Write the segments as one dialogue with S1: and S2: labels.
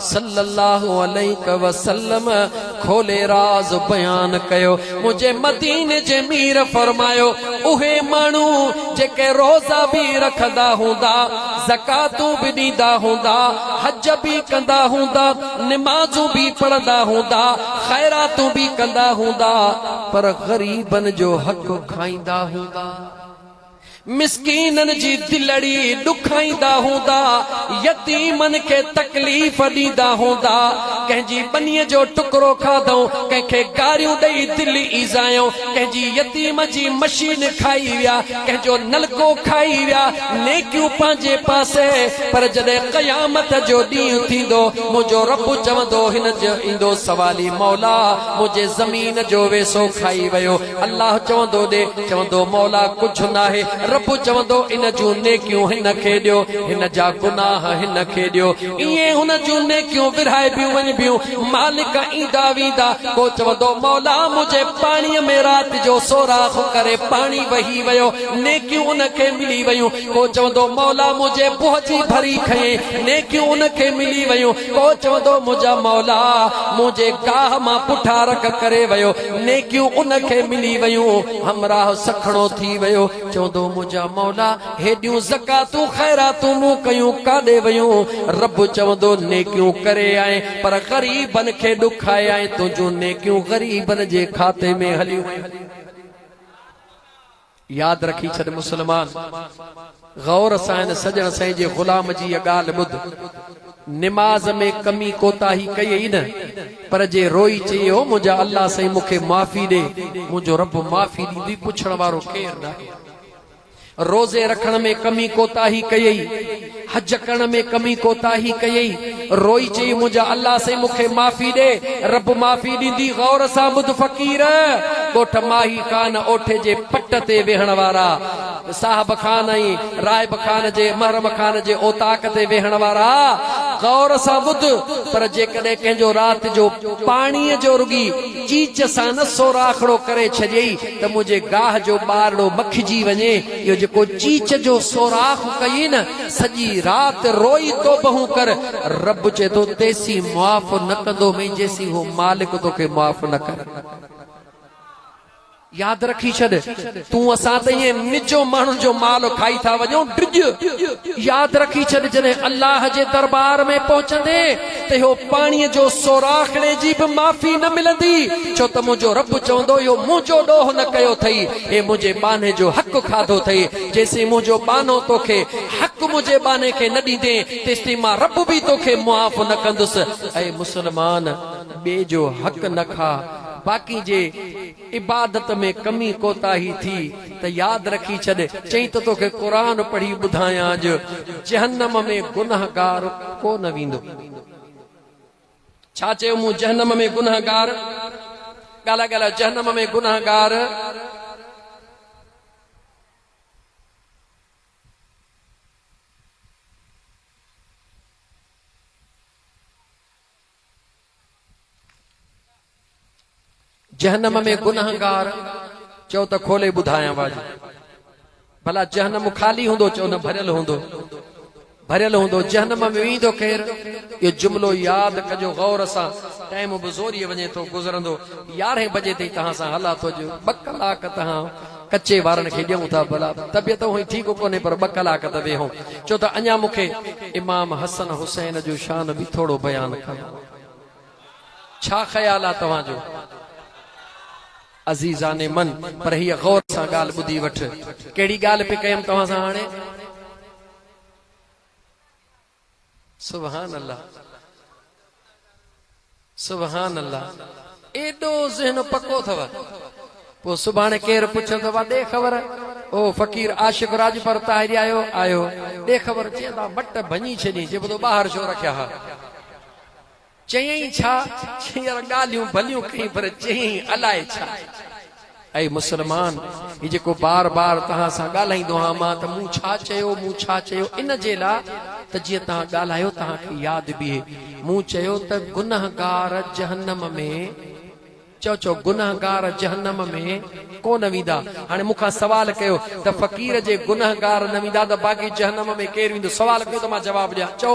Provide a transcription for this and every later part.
S1: صلّي اللّٰه عليڪ وسلّم کولي راز بيان ڪيو، منهنجي مديني جي مير فرمايو، اهي ماڻهو جيڪي روزا به رکندا هوندا، زڪواتون به ڏيندا هوندا، حج به ڪندا هوندا، نمازون به پڙهندا هوندا، خيراتون به ڪندا هوندا، پر غريبن جو حق کائيندا هوندا. مسڪينن جي دلڙي ڏکائيندا هوندا، يتيمن کي تڪليف ڏيندا هوندا، ڪنهن جي ٻنيء جو ٽڪرو کاڌئون، ڪنهن کي گاريون ڏئي دل ايذايئون، ڪنهن جي يتيم جي مشين کائي ويا، ڪنهن جو نلڪو کائي ويا، نيڪيون پنهنجي پاسي، پر جڏهن قيامت جو ڏينهن ٿيندو، منهنجو رب چوندو، هن جو ايندو سوالي، مولا! منهنجي زمين جو ويسو کائي ويو. الله چوندو ڏي، چوندو مولا ڪجهه ناهي، رب چوندو ان جون نيڪيون هن کي ڏيو، هن جا گناهه هن کي ڏيو، ائين هن جون نيڪيون ورهائبيون وڃبيون، مالڪ ايندا ويندا، پوء چوندو مولا منهنجي پاڻي ۾ رات جو سوراخ ڪري پاڻي وهي ويو، نيڪيون ان کي ملي ويون، پوء چوندو مولا منهنجي بوهه جي ڀري کنئين، نيڪيون ان کي ملي ويون، پوء چوندو منهنجا مولا منهنجي گاهه مان پٺا رک ڪري ويو، نيڪيون ان کي ملي ويون، همراهه سکڻو ٿي ويو، چوندو منهنجا مولا! هيڏيون زڪواتون خيراتون مون ڪيون ڪاڏي ويون؟ رب چوندو نيڪيون ڪري آئين، پر غريبن کي ڏکائي آئين، تنهنجون نيڪيون غريبن جي کاتي ۾ هليون ويون. ياد رکي ڇڏ مسلمان! غور سان هن سڄڻ سائين جي غلام جي هيء ڳالهه ٻڌ. نماز ۾ ڪمي ڪوتاهي ڪئي ئي نه، پر جي روئي چئي او منهنجا الله سائين مون کي معافي ڏي، منهنجو رب معافي ڏيندي پڇڻ وارو ڪير ناهي. روزي رکڻ ۾ ڪمي ڪوتاهي ڪئي ئي. حج ڪرڻ ۾ ڪمي ڪوتاهي ڪيئي، روئي چيئي منهنجا الله سائين مون کي معافي ڏي، رب معافي ڏيندي غور سان ٻڌ فقير، ڳوٺ ماهي خان اوٺي جي پٽ تي ويهڻ وارا صاحب خان ۽ راهب خان جي محرم خان جي اوطاق تي ويهڻ وارا غور سان ٻڌ پر جيڪڏهن ڪنهن جو رات جو پاڻي جو رڳي چيچ سان نه سوراخڙو ڪري ڇڏيئي ته منهنجي گاهه جو ٻارڙو مکجي وڃي جو جيڪو چيچ جو سوراخ ڪيين سڄي رات روئي توبهون ڪر رب چئي ٿو تيسين معاف نه ڪندو مئي جيسين هو مالڪ توکي معاف نه ڪري ياد رکي ڇڏ تون اسان ته ائين نجو ماڻهن جو مال کائي ٿا وڃون ڊڄ ياد رکي ڇڏ جڏهن الله جي دربار ۾ پهچندي ته اهو پاڻيء جو سوراخ ڙي جي به معافي نه ملندي، ڇو ته منهنجو رب چوندو اهو منهنجو ڏوهه نه ڪيو اٿئي، هي منهنجي ٻانهي جو حق کاڌو اٿئي، جيسين منهنجو ٻانهو توکي حق منهنجي ٻانهي کي نه ڏيندين، تيستائين مان رب به توکي معاف نه ڪندس. اي مسلمان! ٻئي جو حق نه کاء، باقي جي. عبادت ۾ ڪمي ڪوتاهي ٿي ته ياد رکي ڇڏ، چئين ته توکي قرآن پڙهي ٻڌايان جو جهنم ۾ گنهگار ڪو نه ويندو. ڇا چيو مون جهنم ۾ گنهگار؟ ڳالهاء ڳالهاء جهنم ۾ گنهگار. جهنم ۾ گنهگار چئو ته کولي ٻڌايان واجي ڀلا جهنم خالي هوندو چئو نه ڀريل هوندو ڀريل هوندو جهنم ۾ ويندو ڪير اهو جملو ياد ڪجو غور سان ٽائيم به زوري وڃي ٿو گذرندو يارهين بجي تائين توهان سان هلا ٿو جو ٻه ڪلاڪ توهان ڪچي وارن کي ڏيون ٿا ڀلا. طبيعت هونئن ٺيڪ ڪونهي پر ٻه ڪلاڪ ته ويهون. چو ته اڃا مون کي امام حسن حسين جو شان به ٿورو بيان ڪرڻو آهي. ڇا خيال آهي توهان جو؟ عزيزان من! پر هيء غور سان ڳالهه ٻڌي وٺ. ڪهڙي ڳالهه پئي ڪيم توهان سان هاڻي؟ سبحان الله سبحان الله ايڏو ذهن پڪو اٿو پو سڀاڻي ڪير پڇيو ته وا ڏي خبر او فقير عاشق راجپر طاهري آيو آيو ڏي خبر چي دا مٽ ڀڃي ڇڏي جي بدو ٻاهر شو رکيا ها چيائين ڇا؟ ڇينر ڳالهيون ڀليون ڪيائين پر چيائين الاء ڇا؟ اي مسلمان! هي جيڪو بار بار توهان سان ڳالهائيندو آهيان مان ته مون ڇا چيو، مون ڇا چيو ان جي لاء ته جيئن توهان ڳالهايو توهان کي ياد بيهي. مون چيو ته گنهگار جهنم ۾. چئو چئو گنهگار جهنم ۾ ڪو نه ويندا. هاڻي مون کان سوال ڪيو ته فقير جي گنهگار نه ويندا ته باقي جهنم ۾ ڪير ويندو؟ سوال ڪيو ته مان جواب ڏيان. چئو.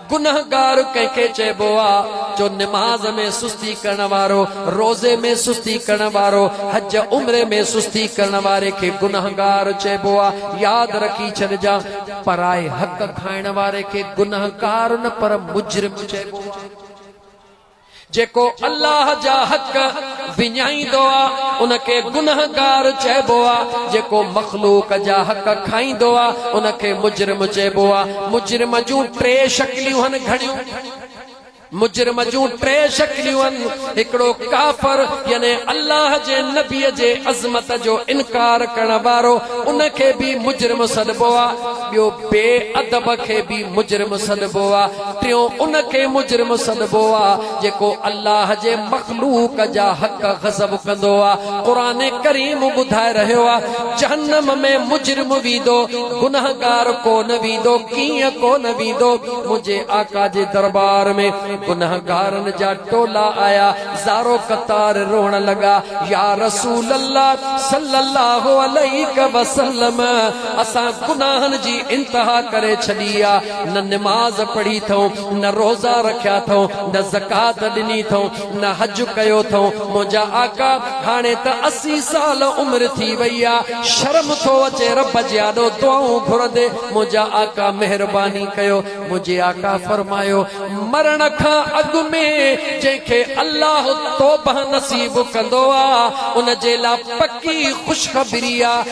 S1: گنهگار ڪنهن کي چئبو آ جو نماز ۾ سستي ڪرڻ وارو، روزي ۾ سستي ڪرڻ وارو، حج عمري ۾ سستي ڪرڻ واري کي گنهگار چئبو آ. ياد رکي ڇڏجان پرائي حق کائڻ واري کي گنهگار نه پر مجرم چئبو آ. جيڪو الله جا حق وڃائيندو آ ان کي گنهگار چئبو آ جيڪو مخلوق جا حق کائيندو آ ان کي مجرم چئبو آ مجرم جون ٽي شڪليون هن گهڻيون مجرم جون ٽي شڪليون هن هڪڙو ڪافر يعني الله جي نبي جي عظمت جو انڪار ڪرڻ وارو ان کي به مجرم سڏبو آ ٻيو بي ادب کي به مجرم سڏبو آ ٽيون ان کي مجرم سڏبو آ جيڪو الله جي مخلوق جا حق غصب ڪندو آ قرآن ڪريم ٻڌائي رهيو آ جهنم ۾ مجرم ويندو گنهگار ڪونه ويندو ڪيئن ڪونه ويندو منهنجي آقا جي دربار ۾ گنهگارن جا ٽولا آيا زارو قطار روئڻ لڳا يا رسول الله صلي الله عليڪ وسلم اسان گناهن جي انتها ڪري ڇڏي آ نه نماز پڙهي ٿئون، نه روزا رکيا ٿئون، نه زڪوات ڏني ٿئون، نه حج ڪيو ٿئون، منهنجا آقا هاڻي ته اسي سال عمر ٿي وئي آ، شرم ٿو اچي رب جي آڏو دعائون گهرندي، منهنجا آقا مهرباني ڪيو، منهنجي آقا فرمايو، مرڻ کان اڳ ۾ جنهن کي الله توبهه نصيب ڪندو آ، ان جي لا پڪي خوشخبري آ،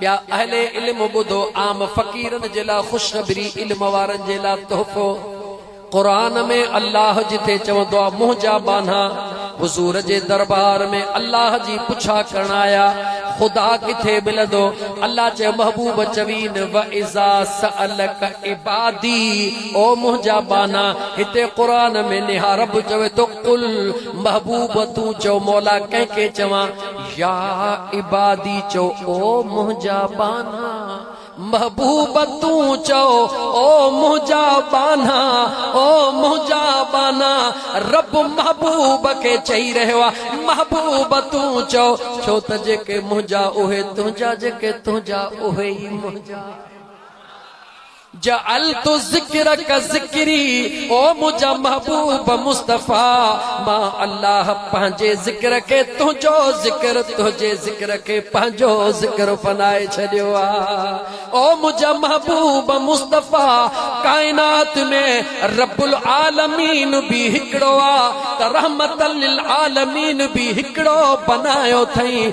S1: ٻيا اهل علم ٻڌو، عام فقيرن جي لاء خوشخبري، علم وارن جي لاء تحفو. قرآن ۾ الله جٿي چوندو آهي، منهنجا ٻانها حضور جي دربار ۾ الله جي پڇا ڪرڻ آيا، خدا ڪٿي ملندو؟ الله چيو محبوب چوين، واذا سالک عبادي او منهنجا ٻانها هتي قرآن ۾ نهار رب چوي ٿو، قل محبوب تون چئو مولا ڪنهن کي چوان؟ يا عبادي چؤ او منهنجا ٻانها، محبوب تون چؤ او منهنجا ٻانها، او منهنجا ٻانها، رب محبوب کي چئي رهيو آ، محبوب تون چؤ، ڇو ته جيڪي منهنجا اهي تنهنجا، جيڪي تنهنجا اهي ئي منهنجا. جعلت ذکرک ذکري او منهنجا محبوب مصطفيٰ مان الله پنهنجي ذڪر کي تنهنجو ذڪر تنهنجي ذڪر کي پنهنجو ذڪر بنائي ڇڏيو آ او منهنجا محبوب مصطفيٰ ڪائنات ۾ رب العالمين به هڪڙو آ ته رحمت للعالمين به هڪڙو بنايو ٿئين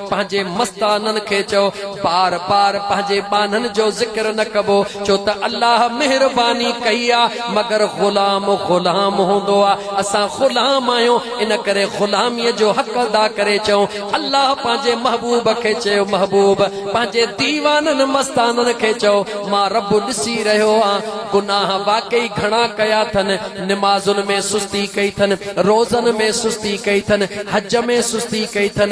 S1: پنهنجي مستانن کي چئو، بار بار پنهنجي ٻانهن جو ذڪر نه ڪبو، ڇو ته الله مهرباني ڪئي آ، مگر غلام غلام هوندو آ، اسان غلام آهيون، ان ڪري غلاميء جو حق ادا ڪري چئون. الله پنهنجي محبوب کي چيو، محبوب! پنهنجي ديوانن، مستانن، کي چئو، مان رب ڏسي رهيو آهيان، گناهه واقعي گهڻا ڪيا اٿن، نمازن ۾ سستي ڪئي اٿن، روزن ۾ سستي ڪئي اٿن، حج ۾ سستي ڪئي اٿن،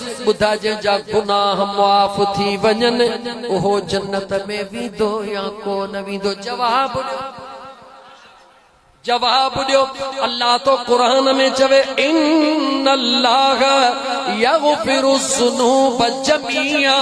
S1: ٻڌاء جنهن جا گناهه معاف ٿي وڃن اهو جنت ۾ ويندو يا ڪو نه ويندو جواب ڏيو جواب ڏيو الله ٿو قرآن ۾ چوي ان الله يغفر الذنوب جميعا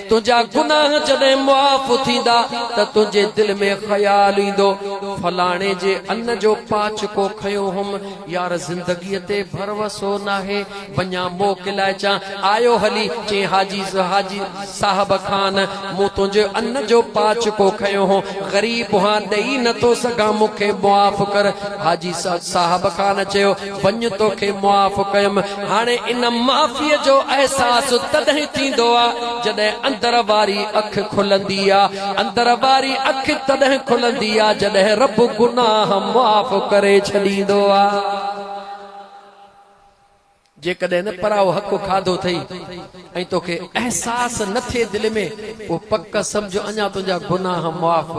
S1: تنهنجا گناهه جڏهن معاف ٿيندا ته تنهنجي دل ۾ خيال ايندو، فلاڻي جي ان جو پاچڪو کنيو هئم، يار زندگيء تي ڀروسو ناهي، وڃان موڪلائي اچان، آيو هلي، چئين حاجي حاجي صاحب خان، مون تنهنجي ان جو پاچڪو کنيو هو، غريب هان، ڏئي نٿو سگهان، مون کي معاف ڪر. حاجي صاحب خان چيو. وڃ توکي معاف ڪيم. هاڻي ان معافيء جو احساس تڏهن ٿيندو آ جڏهن اندر واري اک کلندي آ. اندر واري اک تڏهن کلندي آ جڏهن رب گناهه معاف ڪري ڇڏيندو آ. جيڪڏهن پرائو حق کاڌو ٿئي ۽ توکي احساس نه ٿئي دل ۾ پوء پڪ سمجهه اڃا تنهنجا گناهه معاف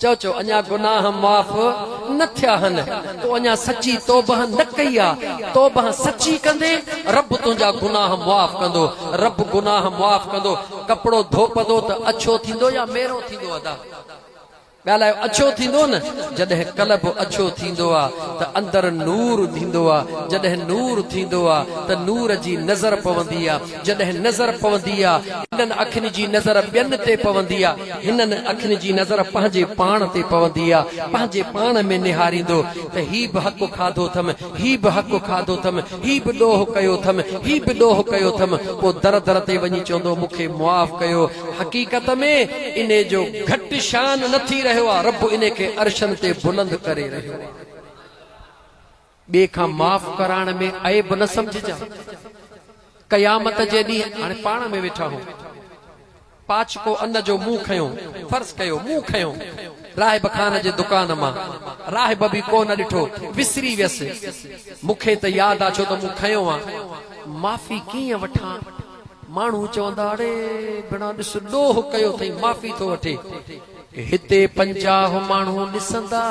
S1: چؤ چؤ اڃا گناهه معاف نه ٿيا هن، تو اڃا سچي توبهه نه ڪئي آ، توبهه سچي ڪندين رب تنهنجا گناهه معاف ڪندو، رب گناهه معاف ڪندو، ڪپڙو ڌوپندو ته اڇو ٿيندو يا ميرو ٿيندو ادا؟ ڳالهايو اڇو ٿيندو نه، جڏهن قلب اڇو ٿيندو آ ته اندر نور ٿيندو آ، جڏهن نور ٿيندو آ ته نور جي نظر پوندي آ، جڏهن نظر پوندي آ، هنن اکين جي نظر ٻين تي پوندي آ، هنن اکين جي نظر پنهنجي پاڻ تي پوندي آ، پنهنجي پاڻ ۾ نهاريندو ته هي به حق کاڌو اٿم، هي به حق کاڌو اٿم، هي به ڏوهه ڪيو اٿم، هي به ڏوهه ڪيو اٿم، پوء در در تي وڃي چوندو مون کي معاف ڪيو، حقيقت ۾ انهي جو گهٽ شان نه ٿي رهيو آ، رب انهي کي عرشن تي بلند ڪري رهيو آ. ٻئي کان معاف ڪرائڻ ۾ عيب نه سمجهجان. قيامت جي ڏينهن هاڻي پاڻ ۾ ويٺا هون. پاڇڪو ان جو مون کنيو، فرض ڪيو، مون کنيو. راهب خان جي دڪان مان راهب به ڪو نه ڏٺو، وسري ويس. مون کي ته ياد آ ڇو ته مون کنيو آ. معافي ڪيئن وٺان؟ ماڻهو چوندا اڙي بنا ڏس ڏوهه ڪيو ٿئي معافي ٿو وٺي. هتي پنجاهه ماڻهو ڏسندا،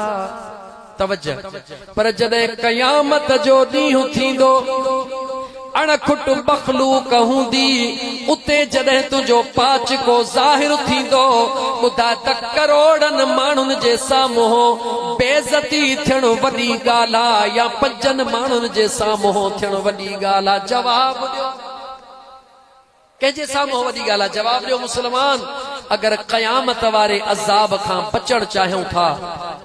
S1: توجه، پر جڏهن قيامت جو ڏينهن ٿيندو، اڻ کٽ مخلوق هوندي، اتي جڏهن تنهنجو پاچڪو ظاهر ٿيندو، ٻڌاء ته ڪروڙن ماڻهن جي سامهون بي عزتي ٿيڻ وڏي ڳالهه آ يا پنجن ماڻهن جي سامهون ٿيڻ وڏي ڳالهه آ؟ جواب ڏيو. ڪنهن جي سامهون اها وڏي ڳالهه آهي؟ جواب ڏيو مسلمان! اگر قيامت واري عذاب کان بچڻ چاهيون ٿا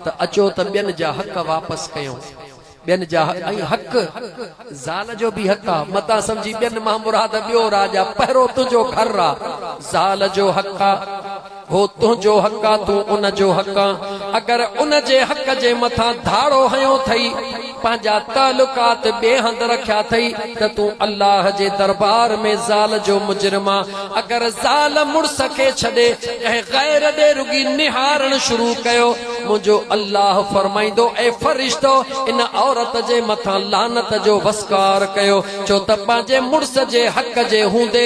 S1: ته اچو ته ٻين جا حق واپس ڪيون. ٻين جا حق ۽ حق زال جو به حق آهي. متان سمجهي ٻين مان مراد ٻيو را جا پهرو تنهنجو گهر را زال جو حق آهي. هو تنهنجو حق آ، تون ان جو حق آن، اگر ان جي حق جي مٿان ڌاڙو هنيو ٿئي، پنهنجا تعلقات ٻئي هنڌ رکيا ٿئي ته تون الله جي دربار ۾ زال جو مجرم آن، اگر زال مڙس کي ڇڏي ڪنهن غير ڏي رڳي نهارڻ شروع ڪيو، منهنجو الله فرمائيندو، اي فرشتو! ان عورت جي مٿان لعنت جو وسڪار ڪيو، ڇو ته پنهنجي مڙس جي حق جي هوندي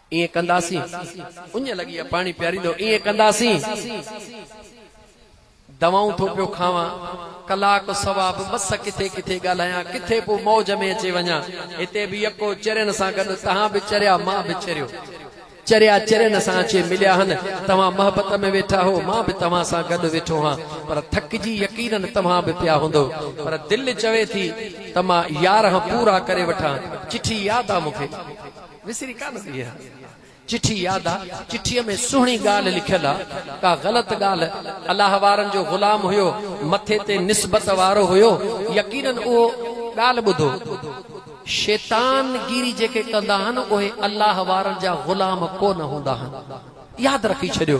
S1: ائين ڪنداسين، اڃ لڳي آ پاڻي پياريندو، ائين ڪنداسين، دوائون ٿو پيو کاوان، ڪلاڪ سوا به مس ڪٿي ڪٿي ڳالهايان، ڪٿي پوء موج ۾ اچي وڃان، هتي به يڪو چرين سان گڏ تهان به چريا مان به چريو، چريا چرين سان اچي مليا هن، توهان محبت ۾ ويٺا هو، مان به توهان سان گڏ ويٺو هان، پر ٿڪجي يقينن توهان به پيا هوندو، پر دل چوي ٿي ته مان يارهن پورا ڪري وٺان، چٺي ياد آ مون کي. وسري ڪانه ٿي اها چٺي ياد آ، چٺيء ۾ سهڻي ڳالهه لکيل آ، ڪا غلط ڳالهه، الله وارن جو غلام هيو، مٿي تي نسبت وارو هيو، يقينن اهو ڳالهه ٻڌو، شيطان گيري جيڪي ڪندا هن اهي الله وارن جا غلام ڪونه هوندا هن، ياد رکي ڇڏيو.